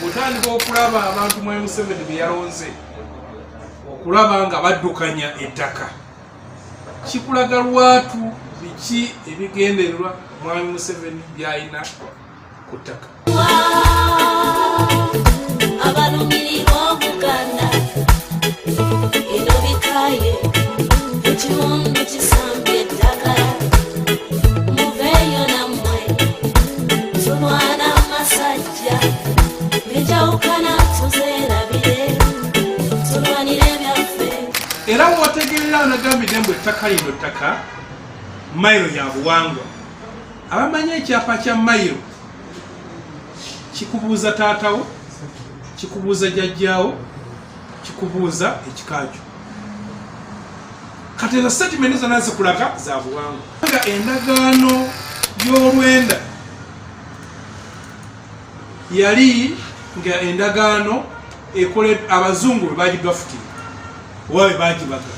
otandika okulaba abantu mwe museveni beyalonze okulaba nga baddukanya ettaka kikulaga lwatu biki ebigendererwa mwami museveni byalina ku ttaka era mwotegerera anagambidde mbu ettaka lino ttaka mayiro ya buwangwa abamanyi ekyapa kya mayiro kikubuuza taatawo kikubuuza jajjaawo kikubuuza ekikakyo kati ezo setimenti zona zikulaga za buwangwa Kubanga endagaano y'olwenda yali nga endagaano ekole abazungu bwe bagigafuti oba bwe bagibaga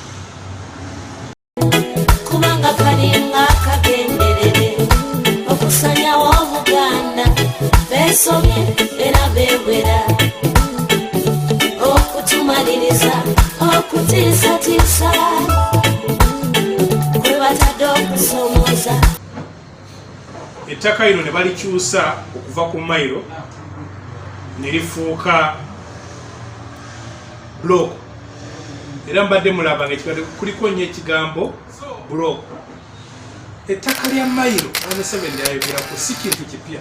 kubanga kalinga kagenderere okusanyawo obuganda besomye era bewera okutumaliriza okutiisatiisa ettaka lino ne balikyusa okuva ku mailo ne lifuuka block era mbadde mulaba nga ekibadde kuliko nnyo ekigambo block ettaka lya mailo amuseveni lyayogerako si kintu kipya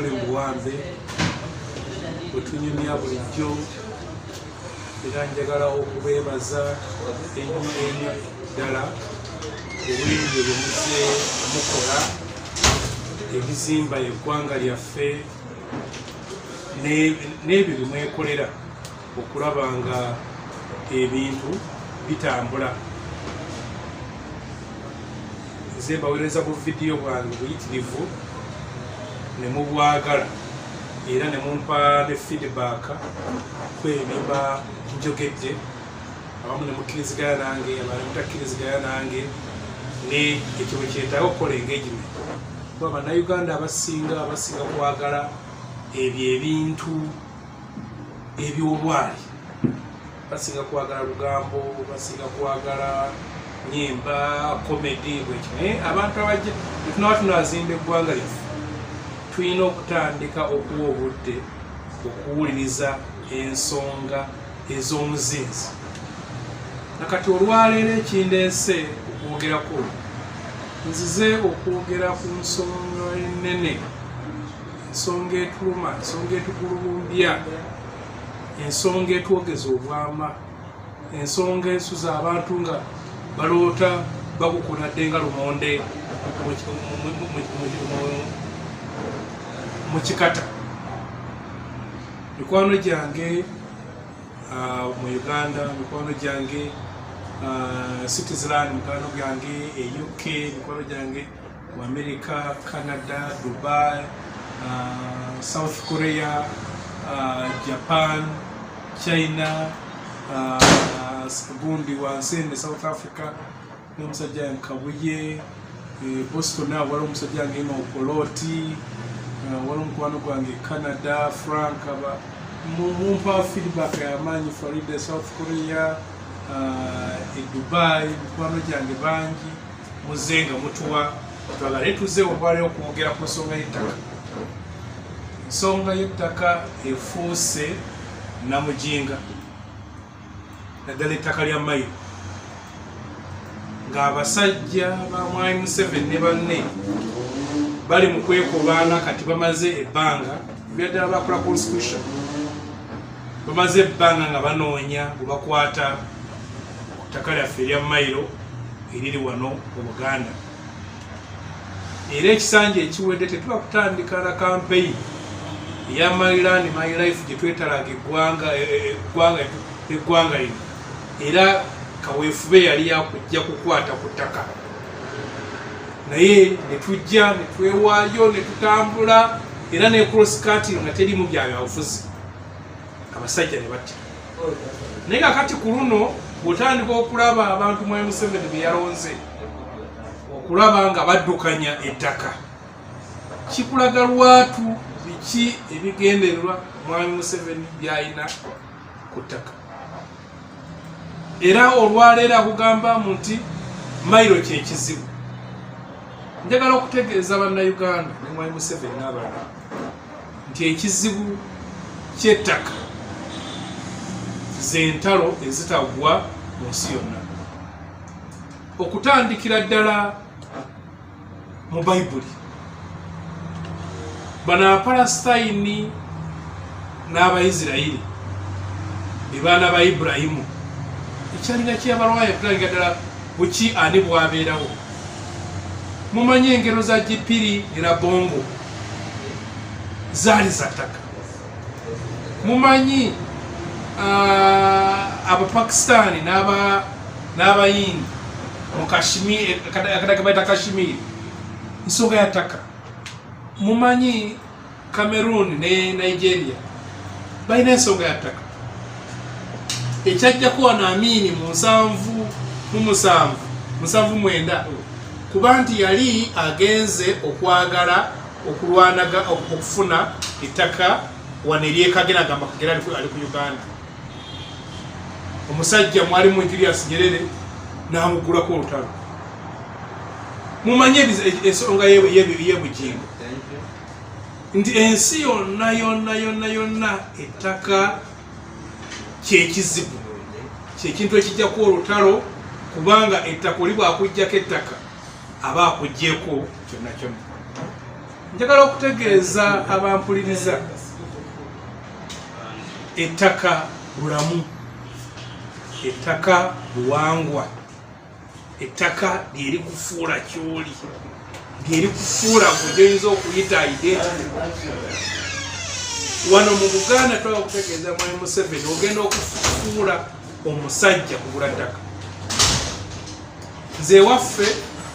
tuli mu buwambe bwetunyumya bulijjo era njagala okubeebaza ennyo ennyo ddala obuyingi bwe muze mukola ebizimba eggwanga lyaffe n'ebyo bye mwekolera okulaba nga ebintu bitambula nze mbawereza bu vidiyo bwange buyitirivu ne mubwagala era ne mumpa ne feedback kwebimba njogedde abamu ne mukkirizigana nange abana mutakkirizigana nange ne ekyo bwe kyetaaga okukola engagement kuba bannayuganda abasinga basinga kwagala ebyo ebintu ebyobwali basinga kwagala lugambo basinga kwagala nyimba komedi bwekyo naye abantu abajja etunaba tunazimba eggwanga lyaffe tulina okutandika okuwa obudde okuwuliriza ensonga ez'omuzinzi nakati olwaleero ekindeese okwogerako nzize okwogera ku nsonga enene ensonga etuluma ensonga etugulubumbya ensonga etwogeza obwama ensonga ensuza abantu nga baloota bakukunadde nga lumonde mu kikata mikwano gyange uh, mu uganda mikwano gyange uh, citizeland mikwano gyange e uk mikwano gyange mu america canada dubai uh, south korea uh, japan china uh, gundi wansi ne south africa n'omusajja yange kabuye eh, boston awo waliwo omusajja yange nga okolooti eh, waliwo omukwano gwange canada frank aba mumpa feedback yamaanyi florida south korea eh, e dubai mikwano gyange bangi muze nga mutuwa twagale tuze obwali okwogera ku nsonga y'ettaka ensonga y'ettaka efuuse namujinga naddala ettaka lya mailo ng'abasajja ba mwami museveni ne banne bali mu kwekobaana kati bamaze ebbanga byaddala bakola constitution bamaze ebbanga nga banoonya bwebakwata ku ttaka lyaffe erya mailo eriri wano mu buganda era ekisanja ekiwedde tetuba kutandika na kampeyi eya my land my life gye twetalaga eggwanga e, e, e, eggwanga lino era kaweefube yali yakujja kukwata ku ttaka naye netujja netwewaayo netutambula era ne cross cutting nga teri mu byabyabufuzi abasajja ne batta naye kakati ku luno bwotandika okulaba abantu mwayi museveni beyalonze okulaba nga baddukanya ettaka kikulaga lwatu biki ebigendererwa mwami museveni byalina ku ttaka era olwaleero akugamba mu nti mailo kyekizibu njagala okutegeeza bannayuganda ne mwami museveni n'abalala nti ekizibu kyettaka zentalo ezitagwa mu nsi yonna okutandikira ddala mu bayibuli bano abapalasitayini n'abaisirairi ebaana ba iburahimu ekyalinga kyeyabalwaya okutandikira ddala buki ani bwabeerawo mumanyi engero za gipiri era bongo zaali zattaka mumanyi uh, abapakistani n'abayindi mukadakebaita kashimiri nsonga yataka mumanyi cameroon ne nigeria balina ensonga yataka ekyajja kuwa naamiini mu nsanvu mu musanvu musanvu mwenda kuba nti yali agenze okwagala okulwanaga okufuna ettaka wano eryekagera agamba kagera ali ku uganda omusajja mwalimu julius nyerere namugulako olutalo mumanye ensonga yebugingo nti ensi yonna yonna yonna yonna ettaka kyekizibu kyekintu ekijjaku olutalo kubanga ettaka oli bwakujjako ettaka aba akugyeko kyonna kyonna njagala okutegeeza abampuliriza ettaka bulamu ettaka buwangwa ettaka lyerikufuula kyoli lyerikufuula gwejoyinza okuyita identity wano mu buganda twaba okutegeeza mwami museveni ogenda okufuula omusajja kugula ttaka nze ewaffe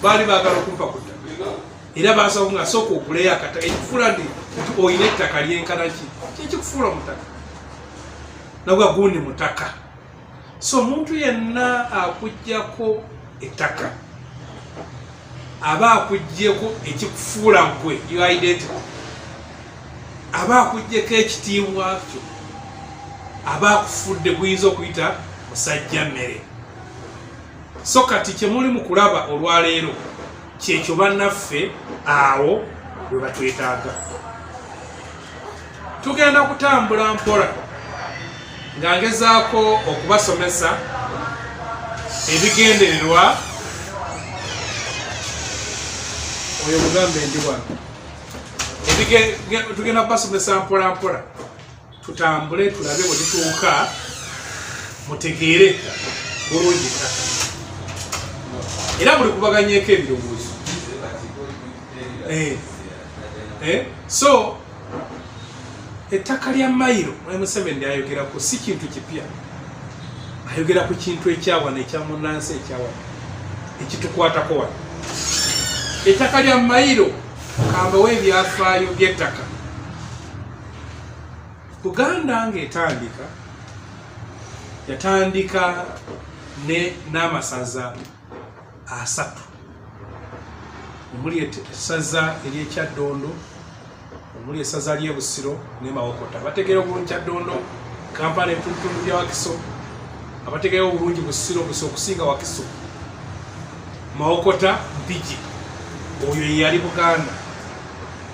baali baagala okumpa ku ttaka era baasaba nga sooka okuleyo akataka ekikufuula nti nti olina ettaka lyenkana ki kyekikufuula omutaka nabwa gundi mutaka so omuntu yenna akugyako ettaka aba akugyeko ekikufuula gwe uidenti aba akugyeko ekitiibwa kyo aba akufudde guyinza okuyita musajja mmere so kati kyemuli mu kulaba olwaleero kyekyo bannaffe awo bwe batwetaaga tugenda kutambula mpola nga ngezaako okubasomesa ebigendererwa oyo mugambe ndi wano tugenda kubasomesa mpola mpola tutambule tulabe bwe tutuuka mutegeere bulungi ettaka era buli kubaganyeeko ebirowoozo eh, eh, so ettaka lya mayiro mwali museveni lyayogerako si kintu kipya ayogera ku kintu ekyawana ekyamunansi ekyawana ekitukwatako wano ettaka lya mayiro kambawo ebyafaayo byettaka buganda ngaetandika yatandika ne n'amasaza asatu omuli esaza eryekyaddondo omuli esaza lyebusiro ne mawokota bategeera obulungi kyaddondo kampala ebitundutundu bya wakiso abategeera obulungi busiro busa okusinga wakiso mawokota mpigi oyo yeyali buganda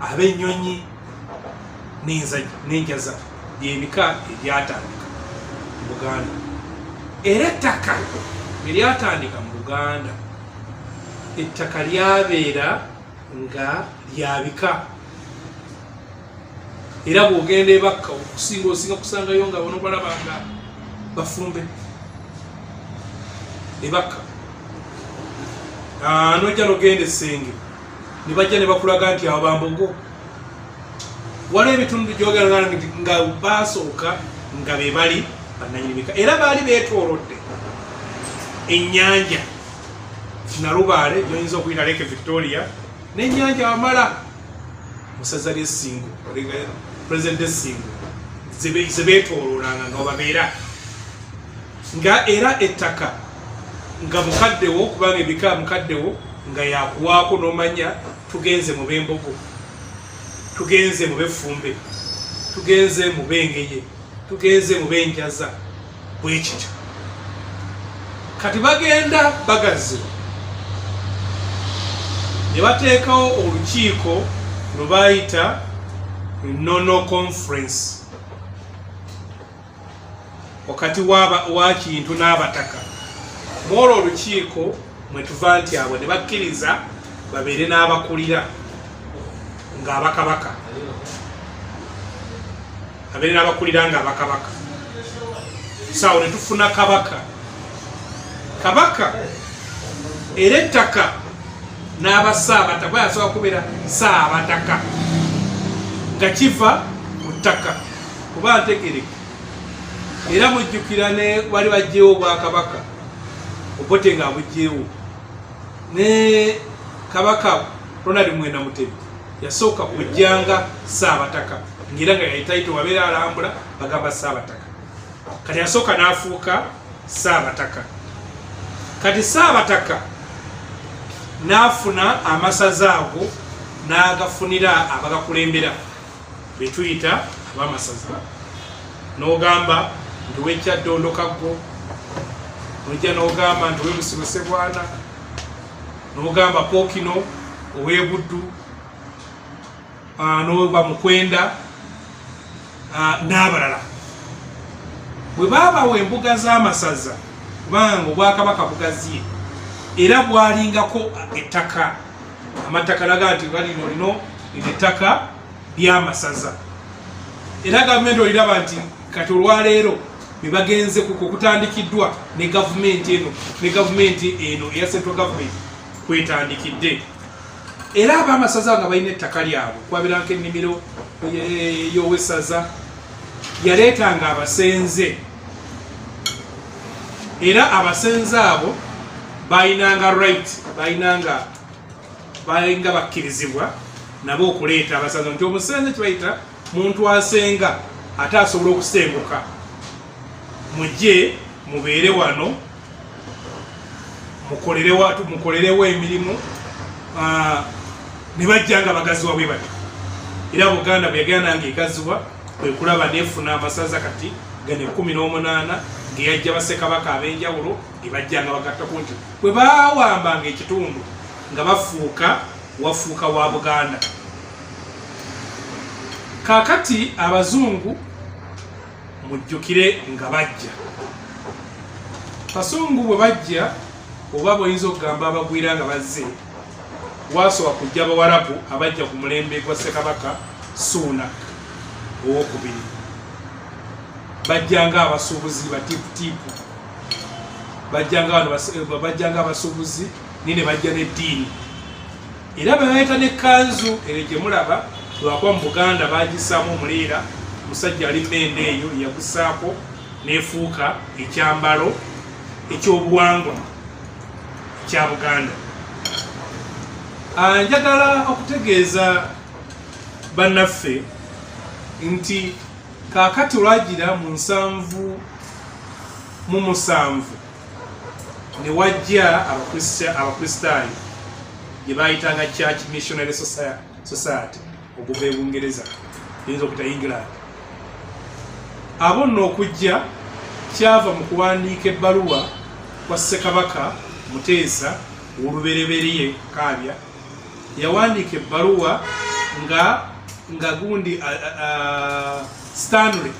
ab'ennyonyi n'enjaza byebika ebyatandika mu buganda era ettaka bwe lyatandika mu buganda ettaka lyabeera nga lyabika era bwogenda ebakka okusinga osinga kusangayo nga bona balaba nga bafumbe ebakka ah, nojja nogenda esenge ne bajja ne bakulaga nti abo bambogo waliwo ebitundu gyogera nga baasooka nga be bali bannanyini bika era baali beetoolodde ennyanja nalubaale gyoyinza okuyita leke victoria n'ennyanja amala musaza lyesingo president esingo zebeetooloolanga nga babeera nga era ettaka nga mukaddewo kubanga ebika mukaddewo nga yakuwaako nomanya tugenze mu bembogo tugenze mu befumbe tugenze mu bengeye tugenze mu benjaza bwekityo kati bagenda bagazi ne bateekawo olukiiko lwe bayita nono conference wakati wa kintu n'abataka mwolwo olukiiko mwetuva nti abo ne bakkiriza babeere n'abakulira ng'abakabaka abeere n'abakulira ng'abakabaka saawo ne tufuna kabaka kabaka era ettaka n'abasaabataka bwe yasobola kubeera saabataka nga kiva mu ttaka kuba ntegereke era mujjukira ne wali bajjeewo obwakabaka obote nga abujjeewo ne kabaka ronald mwena mutebi yasooka kujjanga saabataka ngaera nga yayitaito wabeera alambula bagamba saabataka kati yasooka n'afuuka saabataka kati saabataka n'afuna amasaza ago n'agafunira abagakulembera betuyita abamasaza n'ogamba nti wejja ddondokaggo nojja n'ogamba nti owebusibo sebwana n'ogamba pookino owebuddu n'oba mukwenda n'abalala bwe baabawa embuga z'amasaza kubanga obwakabaka bugaziye era bwalingako ettaka amattaka laga nti balino lino lino ettaka lyamasaza era gavumenti oliraba nti kati olwaleero bebagenze kukutandikiddwa ne gavumenti eno ne gavumenti eno eya central government kwetandikidde era abamasaza nga balina ettaka lyabwe kwabiranko ennimiro yowesaza yaleetanga abasenze era abasenze abo balinanga right balinanga balinga bakkirizibwa nabo okuleeta abasanze nti omusenze kibayita muntu asenga ate asobola okusenguka mujje mubeere wano mukolere watu mukolerewo emirimu ah, ne bajja nga bagaziwa bwe batyo era buganda bwe yagenda nga egaziwa kwe kulaba nefuna amasaza kati gano ekumi n'omunaana ngeyajja basekabaka ab'enjawulo gebajjanga bagattako nti bwe bawambanga ekitundu nga bafuuka wafuuka wa buganda kakati abazungu mujjukire nga bajja kasungu bwe bajja oba bwoyinza okugamba abagwira nga bazze waasooka kujja abawarabu abajja ku mulembe gwa ssekabaka suunak owokubiri bajjanga abasuubuzi batiiputiipu bajjanga abasuubuzi ni ne bajja n'eddiini era bebayita n'ekkanzu ere gye mulaba lwakuba mu buganda bagisaamu omuleera musajja ali mende eyo yagusaako nefuuka ekyambalo ekyobuwangwa kya buganda ah, njagala okutegeeza bannaffe nti kakati lwagira mu nsanvu mu musanvu ne wajja abakristaayo gye bayitanga church missionary society okuva e bungereza eyinza okuta england abo nno okujja kyava mu kuwandiika ebbaluwa kwa ssekabaka muteesa wolubereberye kaabya yawandiika ebbaluwa nga nga gundi stanley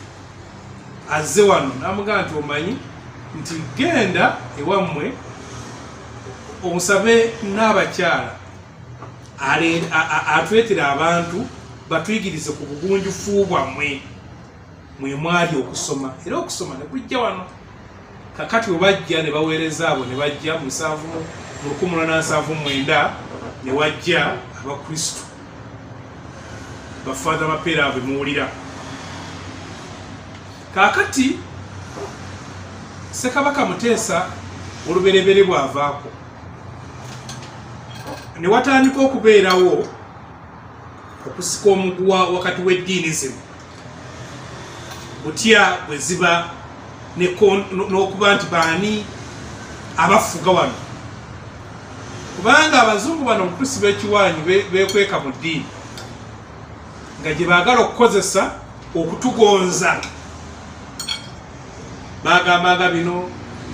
azze wano namugamba nti omanyi nti genda ewammwe omusabe n'abakyala atwetera abantu batuyigirize ku bugunjufu bwammwe mwe mwali okusoma era okusoma ne kujja wano kakati bwe bajja ne baweereza abo ne bajja mu nsanvu mu lukumi lwa nansanvu mwenda ne wajja abakristu bafaatha bapeera abo muwulira kakati sekabaka muteesa olubereberye bwavaako ne watandika okubeerawo okusika omuguwa wakati w'eddiini zino butya bwe ziba n'okuba nti baani abafuga wano kubanga abazungu bano omutusi b'ekiwaanyi bekweka mu ddiini nga gye baagala okukozesa okutugonza bagamba nga bino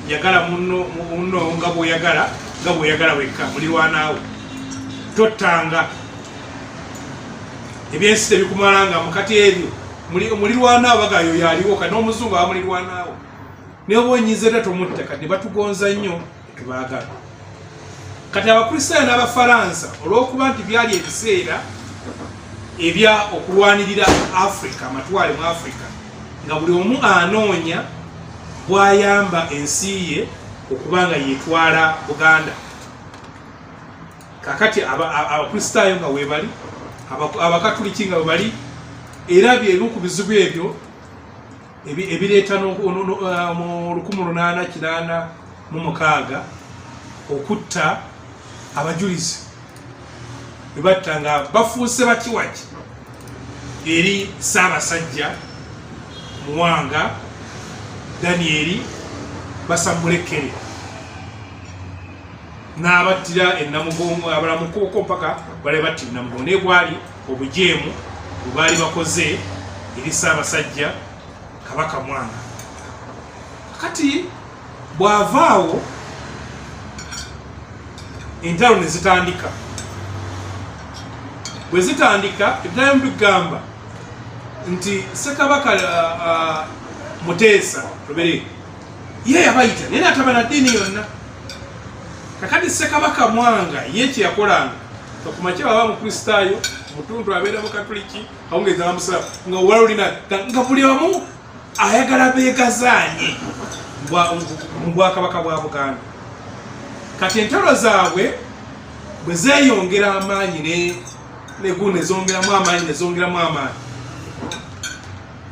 yagala munno munno nga bwoyagala nga bwoyagala wekka mulirwanaawo tottanga ebyensi tebikumalaanga mukati ebyo mulirwanaawo bagayo yaliwo ka n'omuzungu abamulirwanaawo naye oba onyiza era tomutta kati batugonza nnyo tebaagala kati abakristaayo n'abafaransa olw'okuba nti byali ebiseera ebya okulwanirira afrika amatwale mu afrika nga buli omu anoonya bwayamba ensi ye okuba nga yetwala buganda kakati abakristaayo nga webali abakatuliki nga webali era byebimu ku bizibu ebyo ebireeta eh, mu lukumi lunaana kinaana mu mukaaga okutta abajulizi bebatta nga bafuuse bakiwaki eri ssaabasajja muwanga danieri basamulekere n'abattira enamugongo abalamukuuko mpaka bale batti enamugongo naye gwali obujeemu bwe baali bakoze eri ssaabasajja kabaka mwanga kati bw'avaawo entalo ne zitandika bwe zitandika ebiddamu bigamba nti ssekabaka uh, uh, muteesa lubere ye yabayita naye natabana ddiini yonna kakati sekabaka mwanga ye kyeyakolanga kakumakye baba mukristaayo mutundu abeera mukatuliki awungeza bamusala nga wala olina nga buli omu ayagala begazaanye mu bwakabaka bwa buganda kati entalo zaabwe bwe zeyongera amaanyi negu nezongeramu amaanyi nezongeramu amaanyi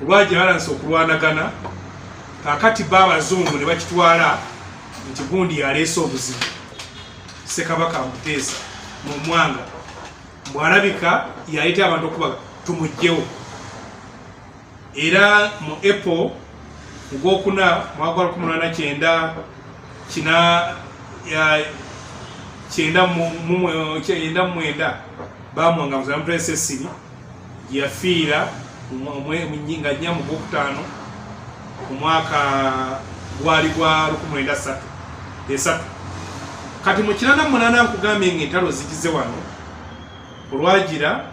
olwajalansa okulwanagana kakati ba abazungu ne bakitwala nti gundi yaleese obuzibu sekabaka amuteesa mu mwanga mbwalabika yaleeta abantu okuba tumugjewo era mu apple mugwokuna mwaka lwa kumi lwana kyenda kina kyenda mu mwenda bamwanga muzamutwesesiri yafiira nga nnya mu gwokutaano ku mwaka gwali gwa lukumwenda satu esatu kati mu kinana munaana nkugambye nga entalo zigize wano olwagira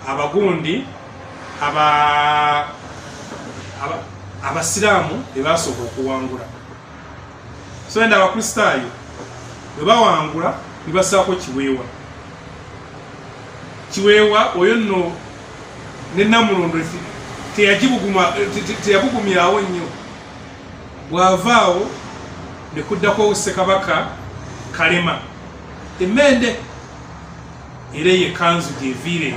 abagundi abasiraamu bebasooka okuwangula so enda abakristaayo bwe bawangula ne basaako kiweewa kiweewa oyo nno ne namulondo teyabugumyawo nnyo bw'avaawo ne kuddako ssekabaka kalema emmende era eyo ekanzu gyeviire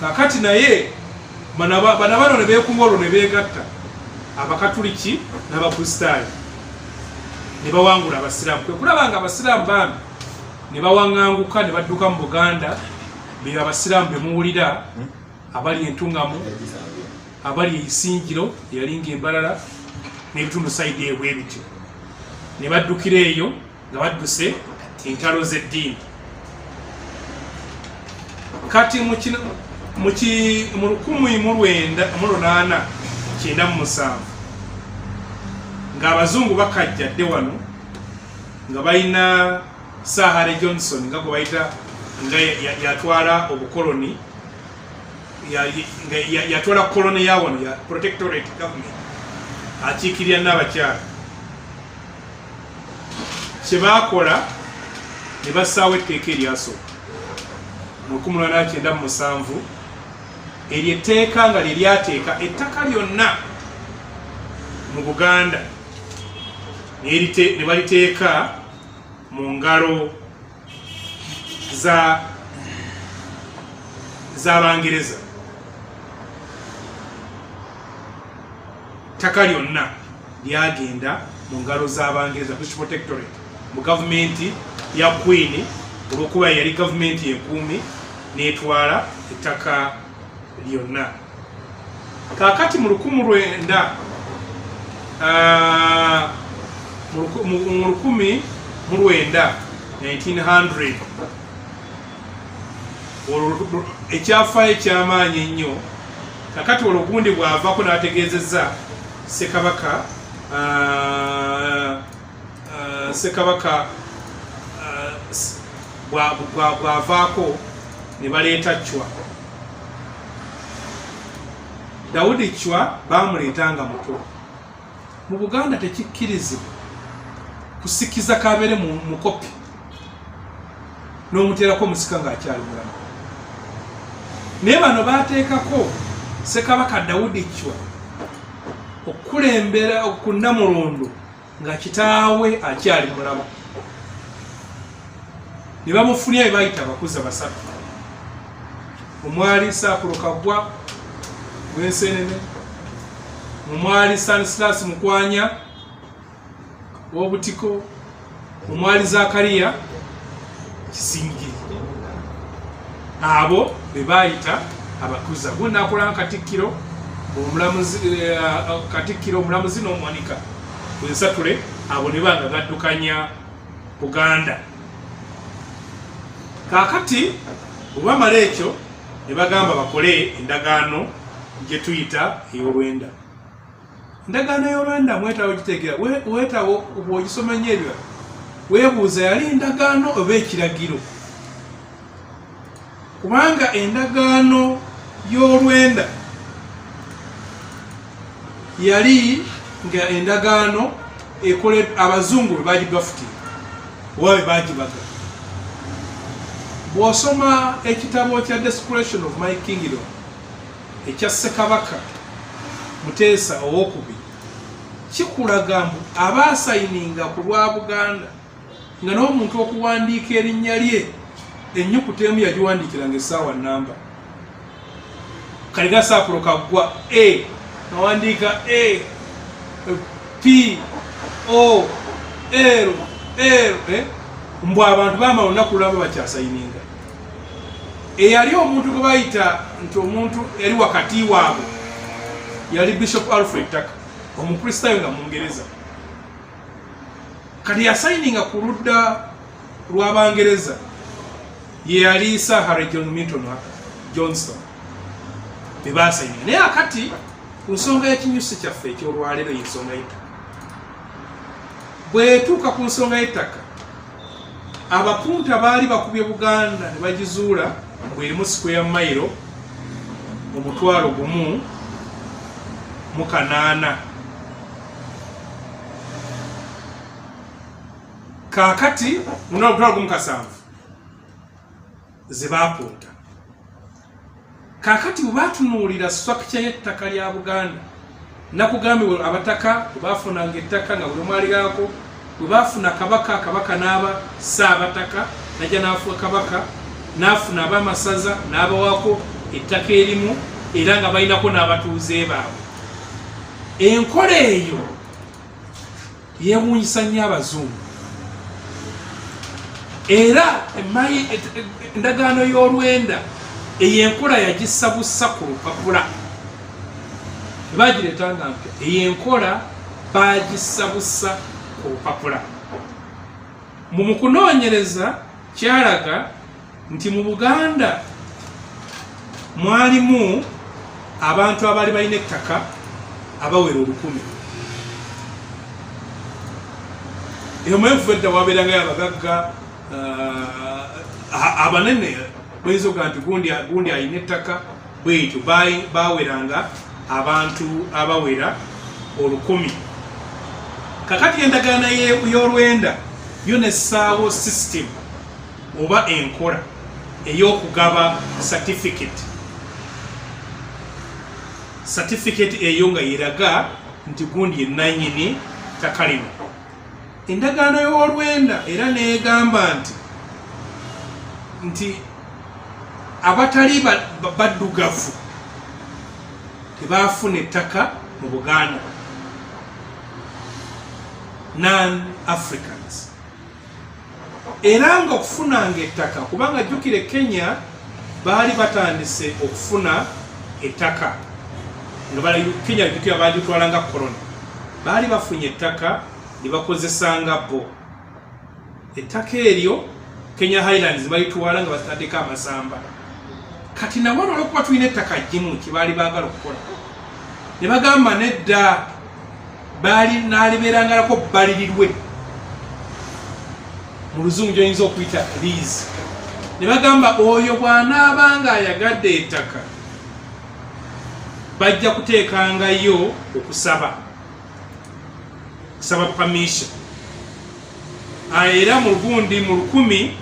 kakati naye bana bano ne beekunga olwo ne beegatta abakatuliki n'abakristaayo ne bawangula abasiraamu kwe kulaba nga abasiraamu bambi ne bawaŋŋanguka ne badduka mu buganda beyo abasiraamu be muwulira hmm? abali entuŋŋamu abali eisingiro eyalinga embalala n'ebitundu saidi ebwe bityo ne baddukira eyo nga badduse entalo z'eddiini kati mu 1897 ng'abazungu bakajjadde wano nga balina sahare johnson nga gwe bayita nga yatwala obukoloni yatwala koloni ya wano ya protectorate government akiikirira n'abakyala kye baakola ne bassaawo etteeka eryasooka mu 1997 eryo etteeka nga lye lyateeka ettaka lyonna mu buganda ne baliteeka mu ngalo za za Bangereza ttaka lyonna lyagenda mu ngalo za Bangereza British Protectorate mu gavumenti ya Queen olwokuba yali gavumenti enkuumi n'etwala ettaka lyonna kakati mu lukumu lwenda ah, mu lukumi mu lwenda 1900 ekyafaayo ekyamaanyi ennyo kakati olwo gundi bw'avako n'ategeezezza ssekabaka ah, uh, sekabaka uh, bwavaako ne baleeta cwa dawudi cwa bamuleeta nga muto mu buganda tekikkirizibwa kusikiza kabeere mukopi n'omuteerako omusika ng'akyali mulamu naye bano baateekako sekabaka dawudi cwa okukulembera okunamulondo nga kitaawe akyali mulamu ne bamufunira be bayita abakuza basatu omwali saakulu kaggwa wensenene omwali sanisilas mukwanya wobutiko omwali zakariya kisingiri abo be baayita abakuza gunakola katikkiro omulamuzi eh, katikkiro omulamuzi n'omuwanika bwensatule abo ne banga gaddukanya buganda kakati obamala ekyo ne bagamba bakole endagaano gye tuyita ey'olwenda endagaano y'olwenda mwetawo gitegera wetawo bwogisoma nyo ebyo webuuza yali endagaano oba ekiragiro kubanga endagaano y'olwenda yali nga endagaano ekole abazungu bwe bagibafutira oba bwe bagibaga bw'osoma ekitabo kya desperation of my kingdom ekya Ssekabaka Muteesa owokubiri kikulaga mbu abaasayininga ku lwa Buganda nga n'omuntu okuwandiika erinnya lye ennyukuta emu yagiwandiikiranga essaawa namba kaliga saapulo kaggwa a nawandiika a p o l l eh? mbu abantu bamala olunaku lwabo bakyasayininga eyali omuntu gwe bayita nti omuntu yali wakati waabwe yali bishop alfred taka omukristaayo nga mungereza kati yasayininga ku ludda lw'abangereza yeyali sahare john milton johnston bebasayininga naye akati ku nsonga y'ekinyusi kyaffe eky'olwaleero y'ensonga y'ettaka bwetuuka ku nsonga y'ettaka abapunta baali bakubye buganda ne bagizuula bwerimu sikweya mayiro omutwalo gumu mu kanaana kaakati munaomutwalo gumu kasanvu ze baapunta kaakati bwe batunuulira structure y'ettaka lya buganda nakugambibwa abataka bwe baafunanga ettaka nga buli omwaligako bwe baafuna kabaka kabaka n'aba saabataka najja n'afuwa kabaka n'afuna abaamasaza n'abawako ettaka erimu era nga balinako n'abatuuze baabwe enkola eyo yewunyisa nnyo abazungu era endagaano y'olwenda eyo enkola yagisabusa ku lupapula ebagireeta nga mpya eyo enkola bagisabusa ku lupapula mu mukunoonyereza kyalaga nti mu buganda mwalimu abantu abaali balina ettaka abawera olukumi emwevu edda wabeerangayo abagagga uh, abanene bweyinza okuga nti gundi alina ettaka bwetyo baweranga abantu abawera olukumi kakati endagaana y'olwenda yo nessaawo system oba enkola ey'okugaba certificate certificate eyo nga yeraga nti gundi yenanyini ttaka lino endagaano y'olwenda era neegamba nti nti abatali baddugavu tebaafuna ettaka mu buganda non african era nga okufunanga ettaka kubanga jjukire kenya baali batandise okufuna ettaka nga bala kenya jjukira baagitwalanga korona baali bafunye ettaka ne bakozesanga bo ettaka eryo kenya highlands balitwala nga bataddeko amasamba kati nawano olwokuba tulina ettaka jjimu kyebaali baagala okukola ne bagamba nedda baali naalibeerangalako bbalirirwe mu luzungu gyoyinza okuyita liizi ne bagamba oyo bw'anaaba nga ayagadde ettaka bajja kuteekangayo okusaba kusaba pamisha ah, era mu lugundi mu lukumi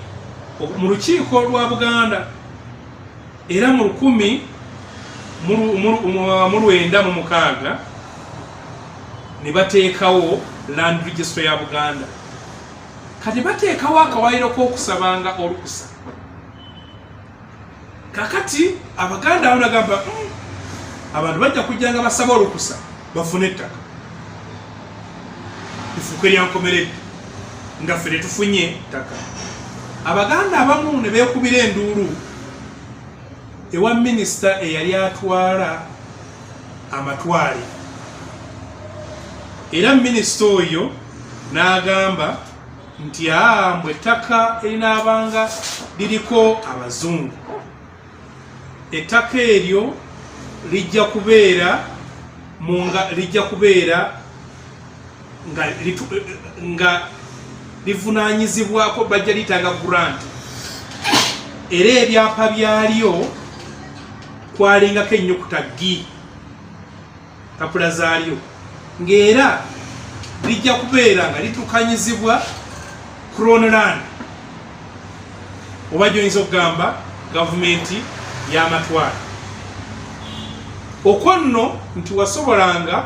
mu lukiiko lwa buganda era mu lukumi mu lwenda mu mukaaga ne bateekawo land registry ya buganda kati bateekawo akawayiro k'okusabanga olukusa kakati abaganda awo nagamba hmm, abantu bajja kujjanga basaba olukusa bafune ettaka ifuka eryankomeredde nga ffe tetufunye ttaka abaganda abamu ne beekubira enduulu ewa minisita eyali atwala amatwale era minisita oyo n'agamba nti aa mbwe ettaka erinaabanga liriko abazungu ettaka eryo lijja kubeera munga lijja kubeera nga nga livunaanyizibwako bajja liyitanga grant era ebyapa byalyo kwalingako ennyukuta gi mpapula zaalyo ng'era lijja kubeera nga litukanyizibwa cronoland oba gyoyinza okugamba gavumenti y'amatwala okwo nno nti wasobolanga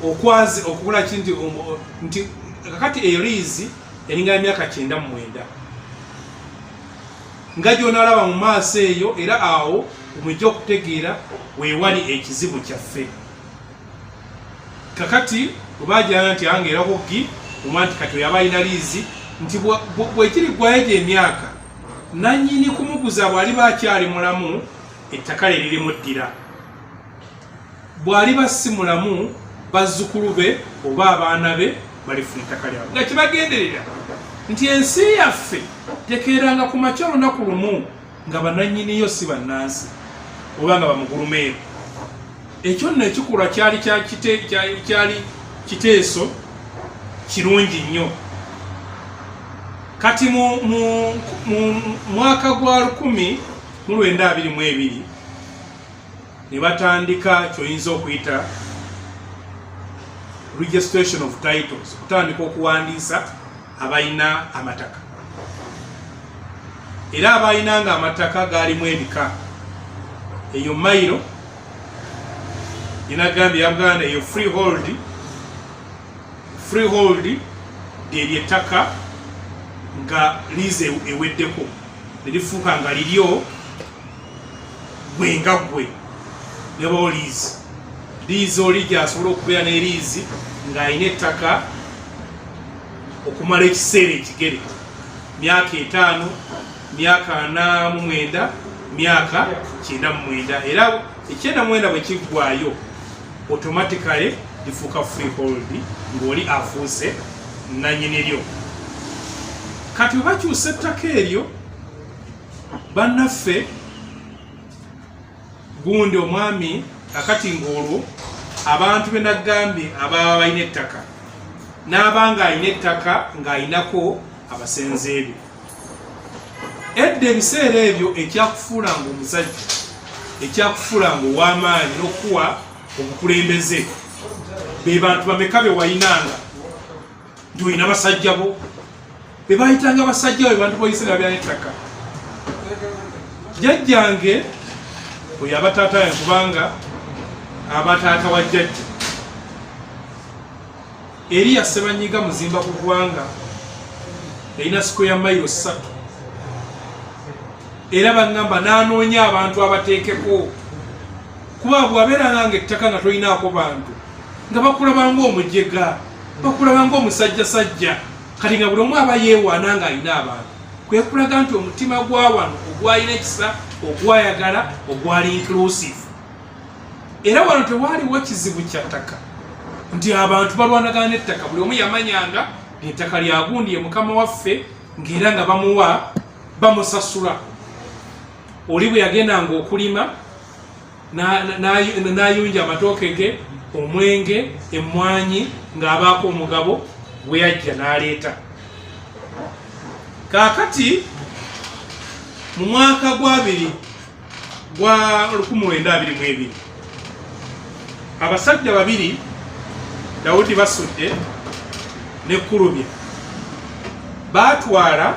okwazi okubula ki nti um, nti kakati eyo liizi eringana emyaka kyenda mu mwenda nga gy'onaalaba mu maaso eyo era awo omujja okutegeera weewali ekizibu kyaffe kakati webajana nti ange era kuggi omwa nti kati oyaba alina liizi nti bwekiri ggwayo egyo emyaka nannyini kumuguza bw'aliba akyali mulamu ettaka lye lirimuddira bw'aliba si mulamu bazzukulu be oba abaana be balifuna ettaka lyabwe nga kibagenderera nti ensi yaffe tekeeranga ku makya olunaku lumu nga bananyiniyo si bannansi oba nga bamugulumeeru ekyo nno ekikulwa kyali kyali kiteeso kirungi nnyo kati mu mwaka gwa 1 mu 922 ne batandika kyoyinza okuyita registration of titles okutandika okuwandiisa abalina amataka era abalina nga amataka gaalimu ebika eyo mailo inagambye yabuganda eyo freehold freehold lyeryo ettaka nga liize eweddeko nerifuuka nga liryo gwe nga gwe ne bawo liizi liizi oli gyasobola okubeera ne liizi ng'alina ettaka okumala ekiseera ekigere myaka etaano myaka ana mu mwenda myaka kyenda mu mwenda era ekyenda mu mwenda bwe kiggwayo automatically lifuuka free hold ng'oli afuuse nanyini lyo kati webakyusa ettaka eryo bannaffe gundi omwami akati ng'olwo abantu be nagambye ababa balina ettaka n'aba ng'alina ettaka ng'alinako abasenze ebyo edda ebiseera ebyo ekyakufuula nga omusajja ekyakufuula nga ow'amaanyi n'okukuwa obukulembeze be bantu bameka be walinanga nti olina basajja bo bebayitanga basajja we bantu boyisira byanettaka jajjange oyo abataata yange kubanga abataata wa jajja eriya sebanyiga muzimba ku ggwanga erina siko ya mayiro ssatu era baŋŋamba n'anoonya abantu abateekeko kuba bwabeera nange ettaka nga tolinaako bantu nga bakulabanga omujega bakulabanga omusajjasajja kati nga buli omu aba yeewaana nga alina abantu kwekulaga nti omutima gwa wano ogwalina ekisa ogwayagala ogwali inclusive era wano tewaaliwo kizibu kya ttaka nti abantu balwanagana n'ettaka buli omu yamanyanga ngaettaka lyagundi ye mukama waffe ngaera nga bamuwa bamusasula oli bwe yagendanga okulima n'ayunja amatooke ge omwenge emmwanyi ng'abaako omugabo gwe yajja n'aleeta kaakati mu mwaka gwabiri gwa 1922 abasajja babiri dawudi basudde ne kurubya baatwala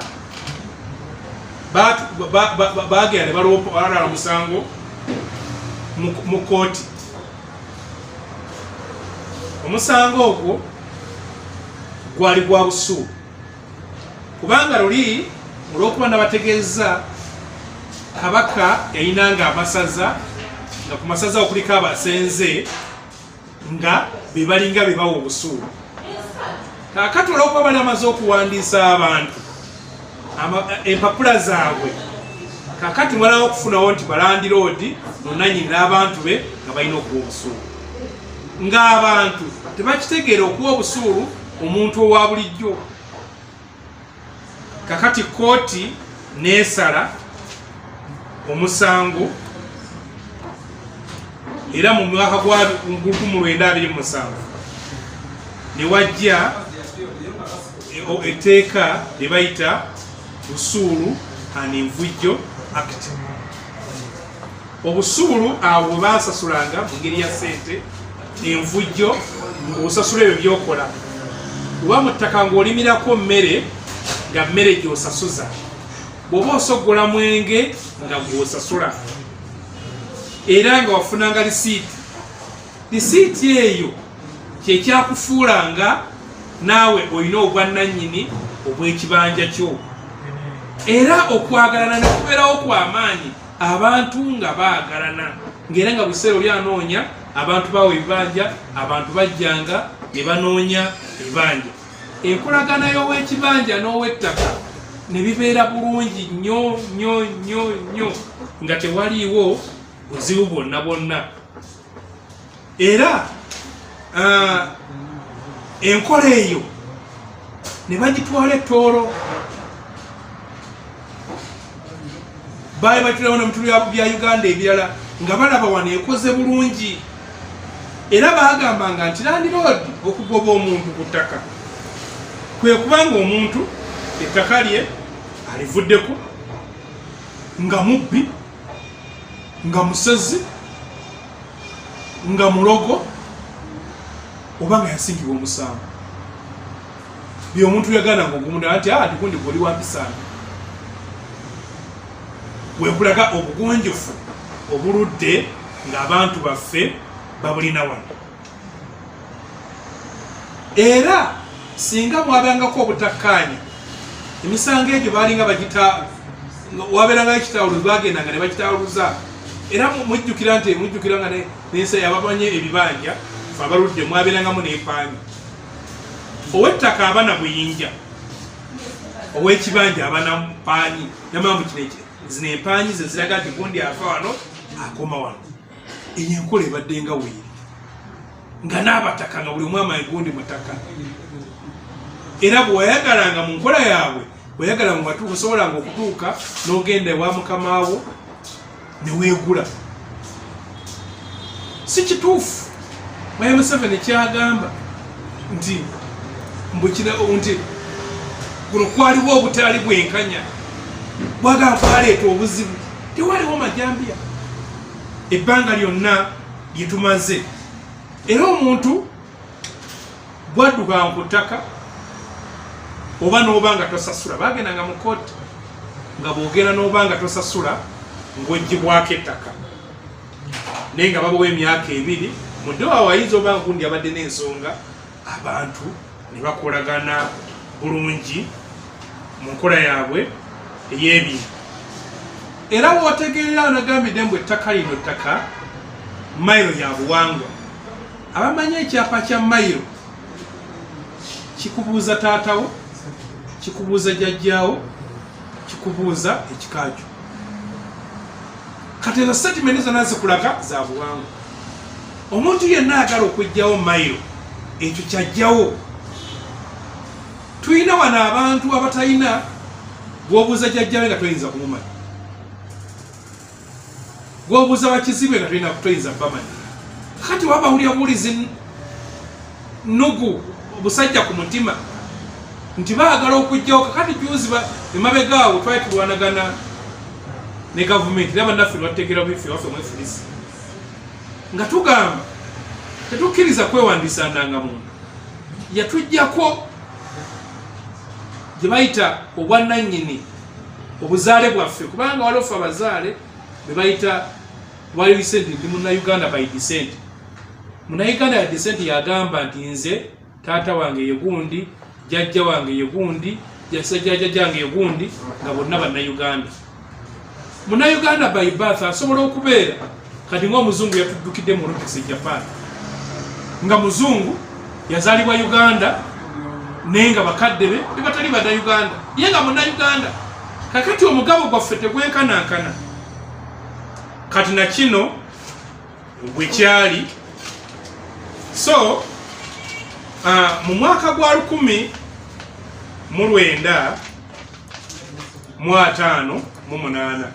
baagera ne balwalala omusango mu kooti omusango ogwo gwali gwa busu kubanga luli olwokuba nabategeeza kabaka yayinanga amasaza nga ku masaza okuliko abasenze nga be balinga be bawa obusuulu kakati olwokuba bali amaze okuwandiisa abantu empapula zaabwe kakati mwalawo okufunawo nti balandiroodi nonanyini n'abantu be nga balina okuwa obusuulu ng'abantu tebakitegeera okuwa obusuulu omuntu owa bulijjo kakati kooti neesala omusango era mu mwaka gwa 1927 ne wajja etteeka lye bayita usuulu and envujjo act obusuulu awo bwe bansasulanga mu ngeri ya sente envujjo osasula ebyo byokola oba mu ttaka ng'olimirako mmere nga mmere gyosasuza bw'oba osoggola mwenge nga gwosasula era nga wafunanga lisiiti Lisiiti eyo kye kyakufuulanga naawe olina obwannannyini obw'ekibanja kyo era okwagalana ne kubeerawo kwa maanyi abantu nga baagalana ng'era nga buseera oli anoonya abantu baawo ebibanja abantu bajjanga ne banoonya ebibanja enkolagana y'ow'ekibanja n'ow'ettaka ne bibeera bulungi nnyo nnyo nnyo nnyo nga tewaliiwo buzibu bwonna bwonna era uh, enkola eyo ne bagitwala ettoolo baali bakirawo ne mutulu bya uganda ebirala nga balaba wano ekoze bulungi era bagambanga nti landiroodi okugoba omuntu ku ttaka kwe kubanga omuntu ettaka lye alivuddeko nga mubbi nga musezi nga mulogo oba nga yasingibwa omusango bye omuntu yagana nga ogumunda nti ah, ndikundi goli wampisana wekulaga obugunjufu obuludde ng'abantu baffe babulina wano era singa mwabangako obutakkaanya emisango egyo baalinga bagita wabeerangayo kitawuluzi bagendanga ne bakitawuluza era mujjukira nti mujjukira nga nensi yababanye ebibanja fe abaludde mwabeerangamu nempaanya owettaka abana buyinja owekibanja abana mpaanyi namamukino ekirezinempaanyi zeziraga nti gundi afa wano akoma wano eyo enkola ebadde nga weeri nga n'abataka nga buli omwama egundi mutaka era bwewayagalanga mu nkola yaabwe weyagala nga watuuka osobolanga okutuuka n'ogenda ewa mukama wo ne weegula si kituufu mwaye museveni kyagamba nti mbukira nti kuno kwaliwo obutaali bwenkanya bwagala kwaleeta obuzibu tewaliwo majambiya ebbanga lyonna lye tumaze era omuntu bwaddukanga ku ttaka oba n'oba nga tosasula bagendanga mu kooti nga bwogenda n'oba nga tosasula ng'oggyibwako ettaka naye nga babawa emyaka ebiri mudde waawayinza oba nkundi abadde n'ensonga abantu ne bakolagana bulungi mu nkola yaabwe ey'ebintu era wootegeerera anagambidde mbu ettaka lino ttaka mayiro ya buwangwa abamanyi ekyapa kya mayiro kikubuuza taatawo kikubuuza jajjaawo kikubuuza ekikakyo kati ezo setimenti zona zikulaga za buwangwa omuntu yenna agala okujjawo mailo ekyo kyajjawo tulina wano abantu abatalina gwobuuza jajjawe nga toyinza kumumanya gwobuuza bakizibwe nga tolina kutoyinza bamanya kati waba wulira buwulizi nugu obusajja ku mutima nti baagala okujjawo kakati juzi emabega awo twali tulwanagana ne gavumenti era bannaffe lwatutegeera biffe waffe mwefulisa nga tugamba tetukkiriza kwewandiisa ndangamuntu yatujjako gye bayita obwannannyini obuzaale bwaffe kubanga waliwo ffe abazaale be bayita wali lisenti ndi munauganda by desenti munauganda ya desenti yagamba nti nze taata wange ye gundi jajja wange ye gundi jasajjaja jange ye gundi nga bonna bannayuganda munayuganda by bath asobola okubeera kati ngaomuzungu yatuddukidde mu olympics e japan nga muzungu yazalibwa uganda naye nga bakadde be bebatali bannayuganda ye nga munayuganda kakati omugabo gwaffe tegwenkanankana kati nakino bwekyali so uh, mu mwaka gwa lukumi mu lwenda mu ataano mu munaana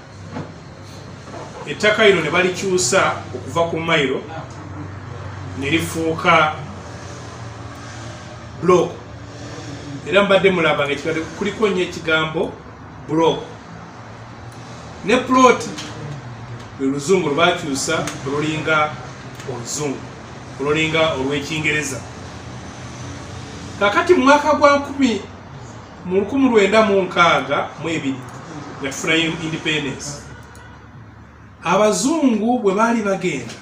ettaka lino ne balikyusa okuva ku mailo ne lifuuka block era mbadde mulaba nga kuliko nnyo ekigambo bro ne plot luluzungu lwakyusa olulinga oluzungu olulinga olwekingereza kakati mwaka gwa nkumi mu lukumi lwenda mu nkaaga mu ebiri nga tufuna independence abazungu bwe baali bagenda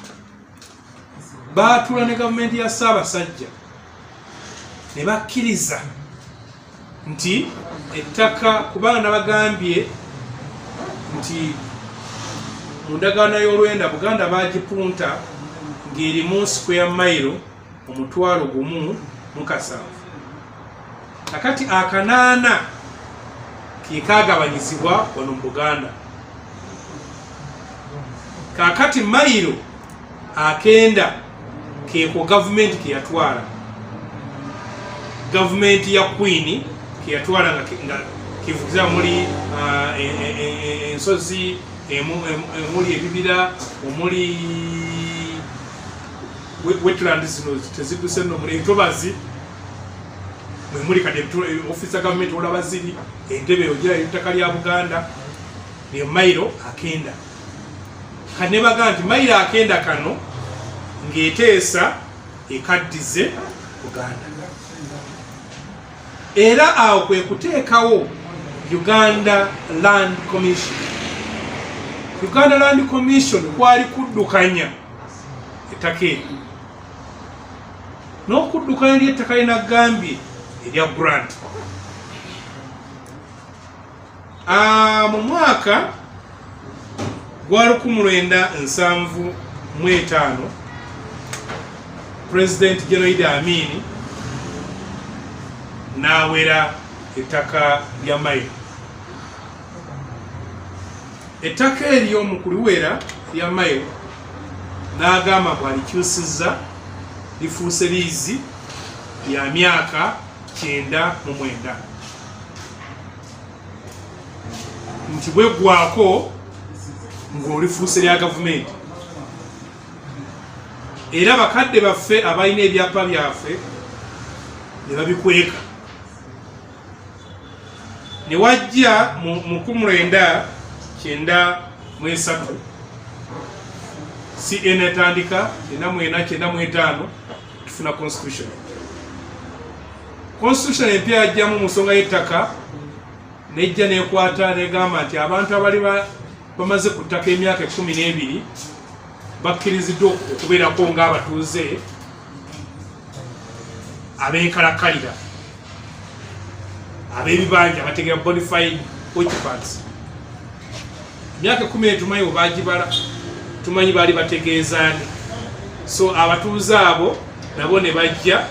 baatula ne gavumenti ya ssaabasajja ne bakkiriza nti ettaka kubanga nabagambye nti mu ndagaano y'olwenda buganda baagipunta ng'erimu sikweya mayiro omutwalo gumu mukasanvu kakati akanaana kekagabanyizibwa wano mu buganda kakati mayiro akenda keko gavumenti keyatwala gavumenti ya kwini keyatwala nga kivugiza muli ah, e, e, e, ensozi emuli ebibira omuli wetland zino teziduse no muli ntobazi mwe muli kati eh, office ya government olaba ziri entebe ogira ettaka lya buganda ne mailo akenda kane baga nti mailo akenda kano ngeteesa ekaddize buganda era awo kwe kuteekawo uganda land commission uganda land commission kwali kuddukanya ettaka eryo n'okuddukana eri ettaka lye nagambye erya grant ah, mu mwaka gwa lukumu lwenda nsanvu mu etaano pulezidenti genoid amiini n'awera ettaka lya mailo ettaka eryo mu kuliwera lya mailo n'agamba mbu alikyusizza lifuuse liizi ya myaka kyenda mu mwenda nti bweggwako ng'olifuuse lya gavumenti era bakadde baffe abalina ebyapa byaffe ne babikweka ne wajja mu nkumi lwenda kyenda mu esatu cn etandika kyenda mu ena kyenda mu etaano tufuna constitution constitution empya yajjamu mu nsonga y'ettaka nejja nekwata negamba nti abantu abali bamaze ku ttaka emyaka ekumi n'ebiri bakkiriziddwa okubeerako ng'abatuuze abenkalakalira abebibanja abategera bonified occupants emyaka ekumi etumanyi webagibala tumanyi baali bategeezaani so abatuuze abo nabo ne bajja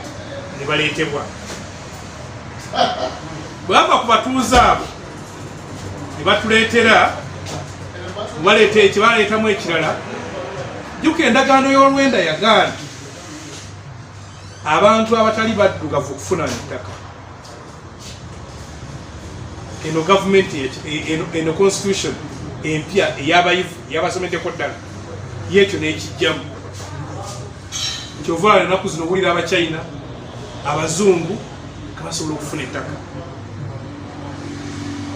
ne baleetebwa bwava ku batuuze abo ne batuleetera baleeta ekibaleetamu ekirala juka endagaano y'olwenda yagaana abantu abatali baddugavu okufuna ettaka eno gavumenti eno constitution empya eyabayivu yabasomeddeko ddala yekyo nekijjamu kyovaala enaku zino owulira abachina abazungu kabasobola okufuna ettaka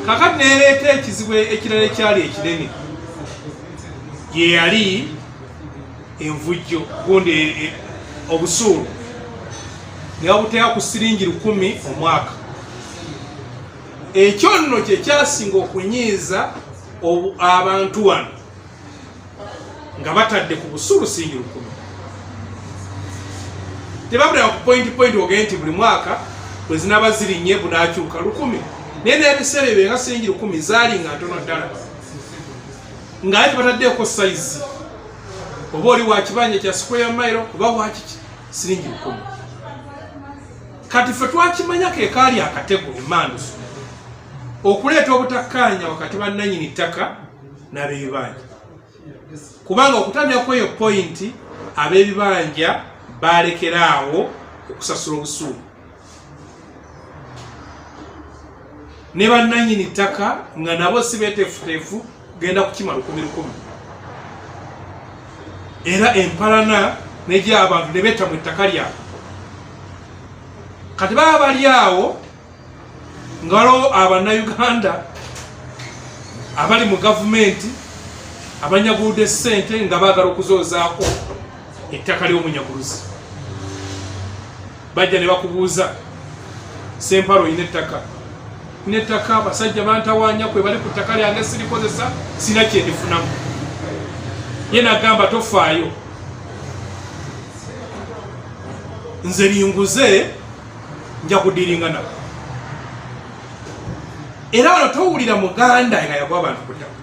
kakati nereeta ekizibu ekirala ekyali ekinene yeyali envujjo gundi e, e, obusuulu nebabuteeka ku siringi lukumi omwaka ekyo nno kyekyasinga okunyiiza abantu wano nga batadde ku busulu singi lukumi tebabulira ku point point ogee nti buli mwaka bwe zinaba zirinye bunakyuka lukumi naye nebiseera ebyo nga singi lukumi zaali nga ntono ddala nga aye tebataddeeko sayizi oba oli wakibanja kya square mile oba wakiki siringi lukumi kati ffe twakimanya kekaali akatego emandusu okuleeta obutakkaanya wakati bannanyini ttaka n'ab'ebibanja kubanga okutandika kweyo pointi ab'ebibanja baalekera awo okusasula obusuulu ne bannanyini ttaka nga nabo si beteefuteefu genda kukima lukumi lukumi era empalana negy'abantu ne beeta mu ttaka lyabwe kati baba bali awo ngalo abannayuganda abali mu gavumenti abanyaguude ssente nga baagala okuzoozaako ettaka ly'omunyaguluzi bajja ne bakubuuza sempalo olina ettaka ina ettaka abasajja bantawanya kwe bali ku ttaka lyange sirikozesa sina kyendifunamu ye nagamba tofaayo nze linguze nja kudiringa nabo era wano towulira muganda nga yagwa abantu ku ttaka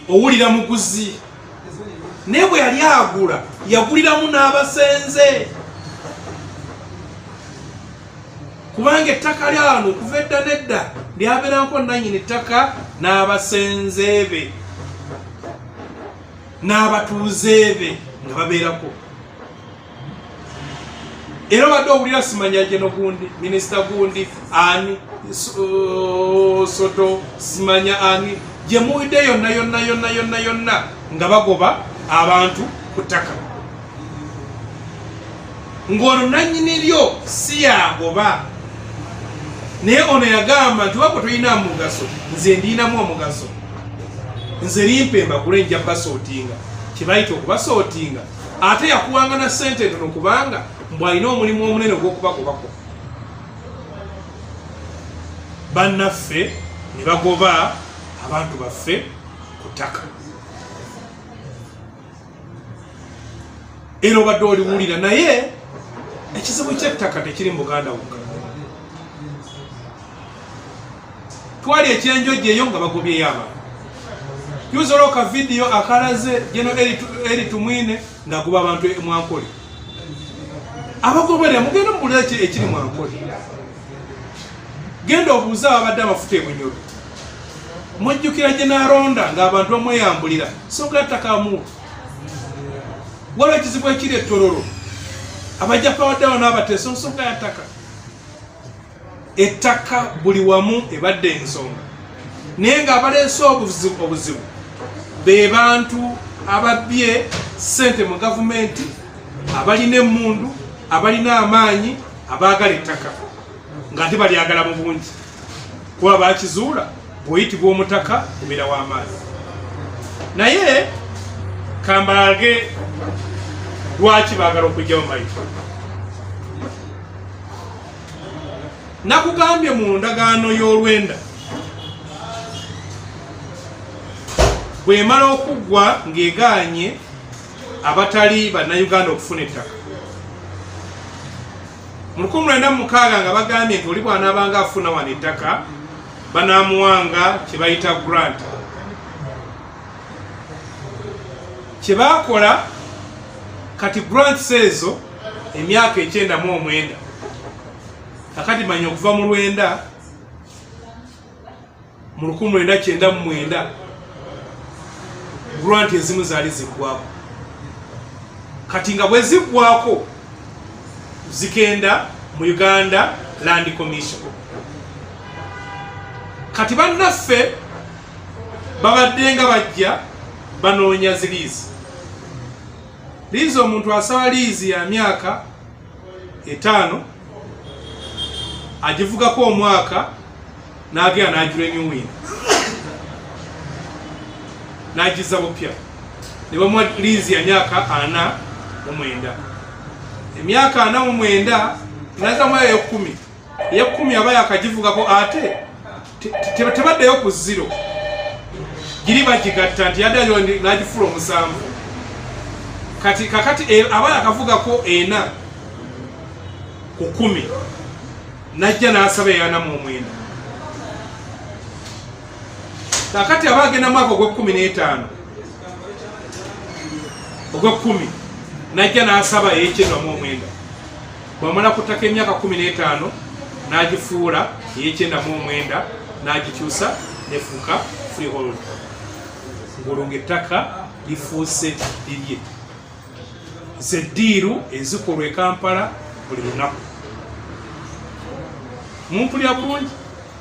owulira muguzi naye bwe yali agula yaguliramu n'abasenze kubanga ettaka lyano okuva edda nedda lyabeeranko nanyini ttaka n'abasenze be n'abatuuze be nga babeerako era obadde owulira simanya gye nogundi minisita gundi ani uh, soto simanya ani gye muwidde yonna yonna yonna yonna yonna nga bagoba abantu ku ttaka ng'ono nannyini lyo si yagoba naye ono yagamba nti wako tolina mugaso nze ndiinamu omugaso nze limpa embagule nja basootinga kyebayita okubasootinga ate yakuwanga na sente ntono kubanga mbu alina omulimu omunene ogwokubagobako bannaffe ne bagoba abantu baffe ku ttaka era obadde oliwulira naye ekizibu kyettaka tekiri mu buganda wokka twali ekyenjojja eyo nga bagobyeyo abantu tuyinza olwo ka vidiyo akalaze geno eri tumwine ngaguba abantu e mwankole abagoberera mugenda mubulira ekiri mwankole genda obuuze ababadde amafuta ebunyoro mujjukira gye naronda ngaabantu bamweyambulira sogatakamu waliwo ekizibu ekiri etororo abajja pawaddawo n'abateesa nsonga yataka ettaka buli wamu ebadde ensonga naye nga abaleese obuzibu be bantu ababbye ssente mu gavumenti abalina emmundu abalina amaanyi abaagala ettaka nga ate balyagala mu bungi kuba bakizuula bweyitibwa omutaka obeera w'amaanyi naye kambaage lwaki baagala okujjawo mayitu nakugambye mu ndagaano y'olwenda bwemala okuggwa ng'egaanye abatali bannayuganda okufuna ettaka mu lukumi lwenda mu mukaaga nga bagambye nti oli bwanaabanga afuna wano ettaka banaamuwanga kye bayita grant kye baakola kati grants ezo emyaka ekyenda mu omwenda kakati manya okuva mu lwenda mu lukumi lwenda kyenda mu mwenda grant ezimu zaali ziggwako kati nga bwe ziggwako zigenda mu uganda land commission kati bannaffe babadde nga bajja banoonya ziriizi Liizi omuntu asaba liizi ya myaka etaano agivugako omwaka n'agenda n'ajula enyuwini n'agizza bupya ne bamuwa liizi ya myaka ana mu mwenda emyaka ana mu mwenda nazamuyayo kumi eyekumi aba yakagivugako ate tebaddeyo ku ziro giri bagigatta nti yaddayo nagifula omusanvu kati kakati e, aba yakavugako ena ku kumi najja nasaba eyanamu omwenda kakati aba agenda mwaka ogwekumi n'etaano ogwekumi najja nasaba eyekyenamu omwenda bwamala ku ttaka emyaka kumi n'etaano n'agifuula ey'ekyenda mu omwenda n'agikyusa nefuuka freehold ng'olwo ng'ettaka lifuuse lirye zeddiiru ezikolwa e kampala buli lunaku mumpulya bulungi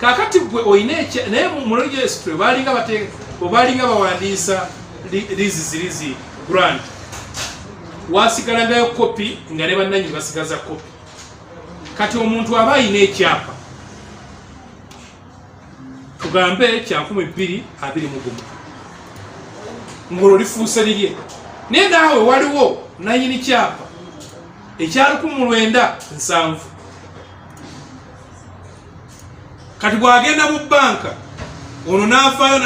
kakati gwe oyina ekya naye mu registry balinga bate obalinga bawandiisa lizi zirizi grant wasigalangayo kopi nga ne bannanyini basigaza kopi kati omuntu aba ayina ekyapa tugambe kyankumi bbiri abiri mugumu ngolo lifuuse lirye naye naawe waliwo nanyini kyapa ekyalukumu lwenda nsanvu kati bwagenda mu banka ono nafaayo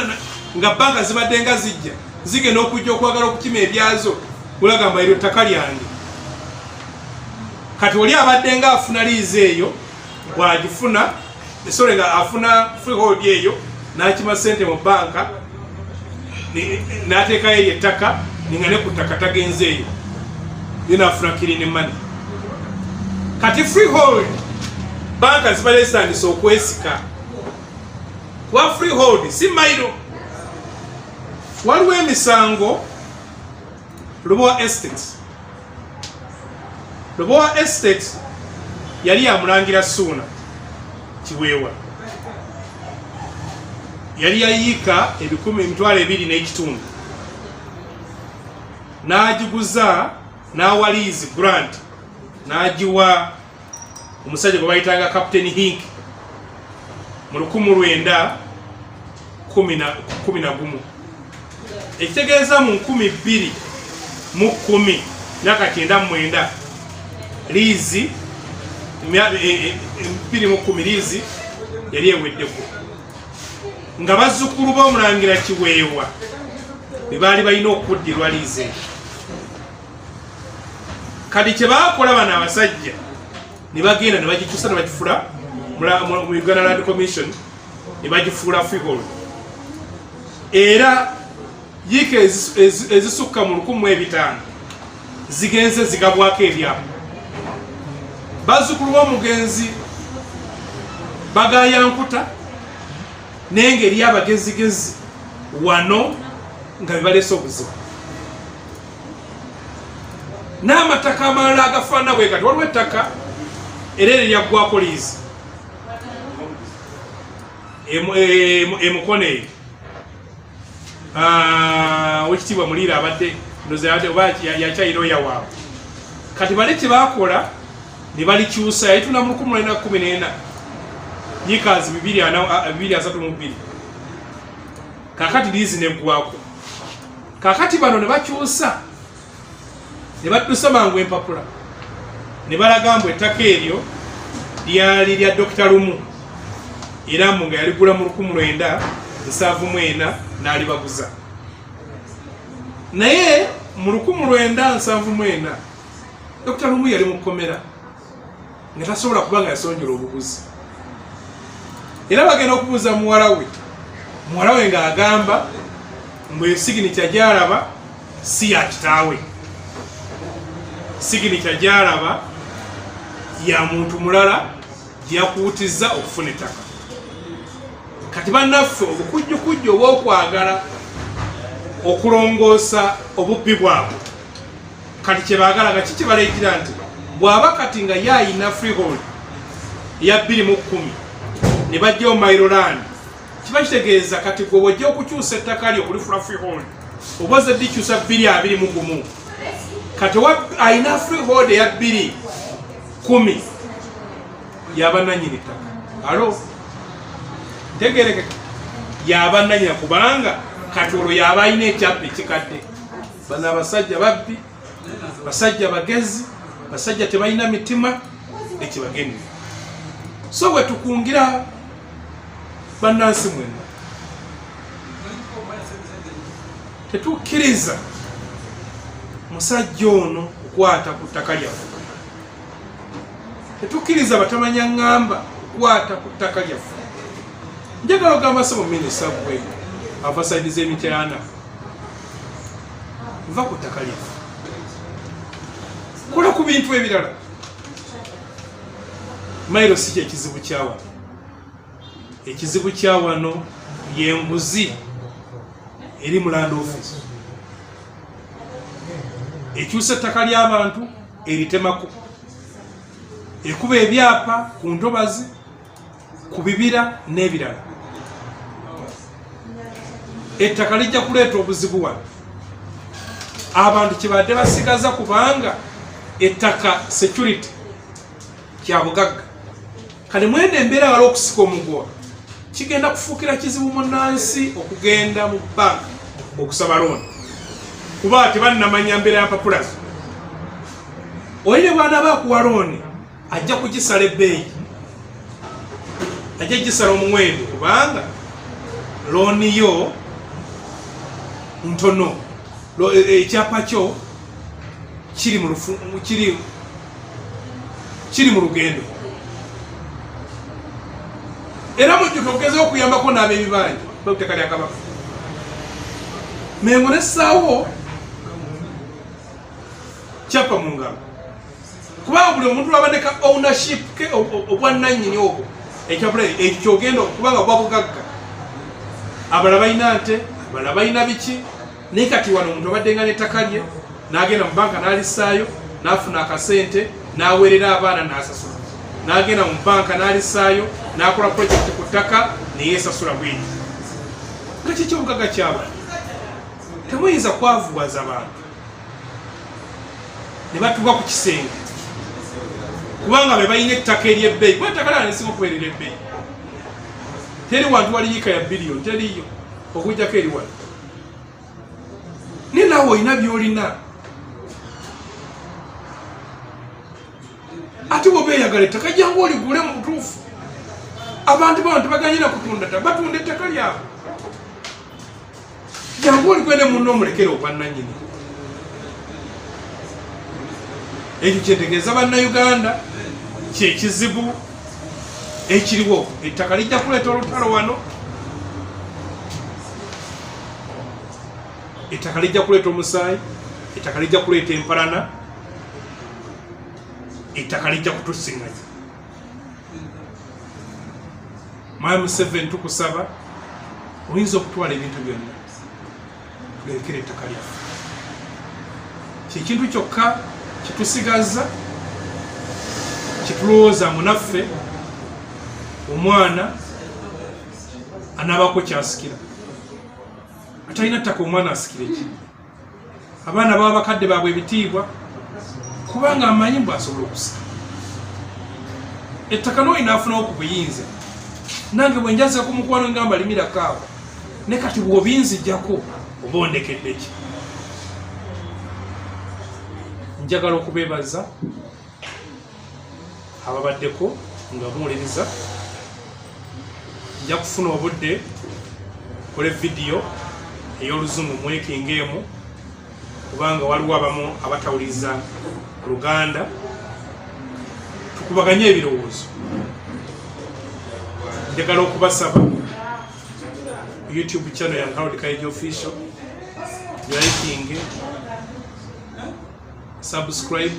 nga banka zibadde nga zijja zigenda okujja okwagala okukima ebyazo olagamba eryo ttaka lyange kati oli abadde nga afuna liizi eyo bwagifuna esole nga afuna freehold eyo nakima sente mu banka n'ateekayo eyo ettaka ninga ne ku ttaka tagenze eyo yo naafuna kirini mani kati freehold banka zibalesaanisa okwesika kuba freehold si mairo waliwo emisango lubowa estates Lubowa Estate yali ya Mulangira Suuna Kiweewa, yali ya yiika ebikumi emitwalo ebiri n'ekitundu n'agiguza n'awaliizi grant n'agiwa omusajja gwe bayitanga captain hink mu lukumu lwenda kumi na gumu ekitegeeza mu nkumi bbiri mu kumi myaka kyenda mu mwenda liizi e, e, e, bbiri mu kumi liizi yali eweddeko nga bazzukulu b'omulangira kiweewa be baali balina okuddirwa liizi eyo kati kyebakola bano abasajja nebagenda nebagikusa nebagifula mu uganda land commission nebagifuula figol era yiika ezisukka mu lukumi mu ebitaano zigenze zigabwako ebyapa bazzukulu b'omugenzi bagayankuta nengeri abagezigezi wano nga bebaleese obuzibu n'amataka amalala agafaana bwe gati waliwo ettaka era eri lyaggwako liizi emukono eyo ah, wekitiibwa muliira abadde oba yakyayira oya waabwe kati bale kyebakola ne balikyusa yayituna mu lukumi lwena kumi nena yikazi bibiri asatu mu bbiri kakati liizi neggwako kakati bano ne bakyusa ne baddusa mangu empapula ne balaga mbu ettaka eryo lyali lya dokita lumu era mbu nga yaligula mu lukumu lwenda nsanvu mu ena n'alibaguza naye mu lukumu lwenda nsanvu mu ena dokita lumu yali mu kkomera nga tasobola kuba nga yasonjola obuguzi era bagenda okubuuza muwala we muwala we ng'agamba mbu esiginikya gyalaba si ya kitaawe siginikya gyalaba ya muntu mulala gyeyakuutiza okufuna ettaka kati bannaffe obukujjukujju obwokwagala okulongoosa obubbi bwabwe kati kyebagala nga kiki balaikira nti bwaba kati nga ye ayina freehold eya bbiri mu kkumi ne bajjawo mairoland kiba kitegeeza kati gwe wajja okukyusa ettaka lyo kulifula freehold oba oze dikyusa bbiri abiri mu gumu kati ayina freehold eya bbiri kumi yabananyini ttaka alo ntegerekeka yabananyina kubanga kati olwo yaba ayina ekyapa ekikadde bano abasajja babbi basajja bagezi basajja tebalina mitima ekibagemye so wetukungira bannansi mwena tetukkiriza musajja ono kukwata ku ttaka lyaffe tetukkiriza batamanya ŋŋamba kukwata ku ttaka lyaffe njagala ogamba sebo minisita gwe avasaidiza emityana va ku ttaka lyaffe kola ku bintu ebirala mailo si kyekizibu kyawano ekizibu kyawano yenguzi eri mulanda ofisi ekyusa ettaka lyabantu eritemako ekuba ebyapa ku ntobazi ku bibira n'ebirala ettaka lijja kuleeta obuzibu wano abantu kyebadde basigaza kubanga ettaka security kyabugagga kale mwene embeera wala okusika omugoa kigenda kufuukira kizibu munansi okugenda mu banka okusaba looni kuba tebanamanya mbeera ya mpapulazo oyi ne bwana bakuwa looni ajja kugisala ebbeeyi ajja gisala omuwendo kubanga looni yo ntono e, e, ekyapa kyo kiri mu lufu kiri kiri mu lugendo era mujjuke okugeza okuyambako n'ab'ebibanja betteka lya kabaka mengo nessaawo kyapa mu ngalo kubanga buli omuntu lwabadde ka ownership ke obwannannyini obwo ekyabulayo ekyo kyogenda okubanga bwa bugagga abala balina nte abala balina biki naye kati wano omuntu abaddenga n'ettaka lye n'agenda mu banka n'alisaayo n'afuna akasente n'aweerera abaana n'asasula n'agenda mu banka n'alisaayo n'akola projekiti ku ttaka neyeesasula bweri nga kiki obugagga kyabwe temuyinza kwavuwaza bantu ne batuuka ku kisenge kubanga be balina ettaka ery'ebbeeyi kuba ettaka lala nesinga okubeerera ebbeeyi teri wantu wali yika ya biliyoni teriyo okujjako eri wano naye nawe olina byolina ate bwoba eyagala ettaka jangu oligule mu butuufu abantu bano tebaganyina kutunda ta batunda ettaka lyabwe jangu olikwende munno omulekere obwannanyini ekyo kyetegeeza bannayuganda kyekizibu ekiriwo ettaka lijja kuleeta olutalo wano ettaka lijja kuleeta omusaayi ettaka lijja kuleeta empalana ettaka lijja kutusiŋanya mwami museveni tukusaba oyinza okutwala ebintu byonna tulekera ettaka lyaffe kyekintu kyokka kitusigaza kitulowooza munaffe omwana anaabako kyasikira atalina ttaka omwana asikire ki abaana baba bakadde baabwe ebitiibwa kubanga amanyi mbu asobola okusa ettaka noyi nafunawo ku buyinza nange bwe njaza ku mukwano ngamba limira kaawa ne kati bwobinzijako oba ondekeddeki njagala okubebaza ababaddeko nga muwuliriza nja kufuna obudde kole vidiyo ey'oluzungu mwekinga emu kubanga waliwo abamu abatawuliriza luganda tukubaganye ebirowoozo njagala okubasaba youtube channel ya harold kaija official yaikinge subscribe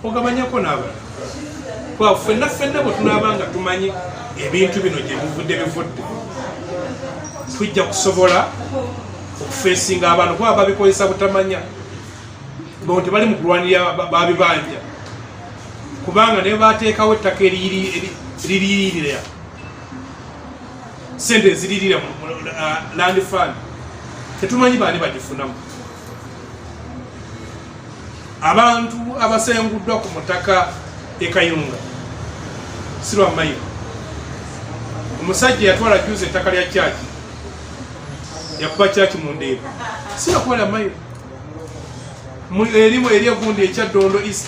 ogabanyako n'abalala kuba ffenna ffenna bwe tunaaba nga tumanyi ebintu bino gye bivudde bivudde tujja kusobola okufeesinga abantu kuba babikozesa butamanya bo tebali mu kulwanirira babibanja kubanga naye bateekawo ettaka eririirira sente eziriirira mu uh, land fund tetumanyi baani bagifunamu abantu abasenguddwa ku mutaka ekayunga sirwamayiro omusajja yatwala juuzi ettaka lya kyaki yakuba kyaki mu ndeeba sirakwala mayiro erimu eri egundi ekya dondo east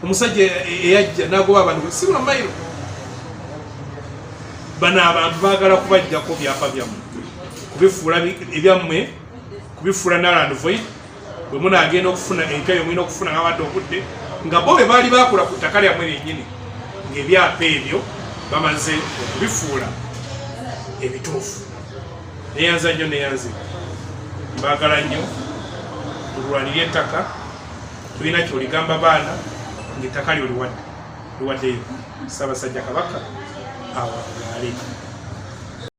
omusajja e-, e-, eyajja nagoba abantu sirwamayiro bano abantu bagala kubajjako byapa byammwe kubifuula ebyammwe kubifuula naland void bwe munaagenda okufuna empya yo mulina okufuna ngabadde okudde nga bo be baali bakola ku ttaka lyammwe lyennyini ng'ebyapa ebyo bamaze okubifuula ebituufu neyanza nnyo neyanzi mbaagala nnyo tulwanire ettaka tulina kyoligamba baana ngaettaka lyo liwadde liwaddeyo ssaabasajja kabaka awangaale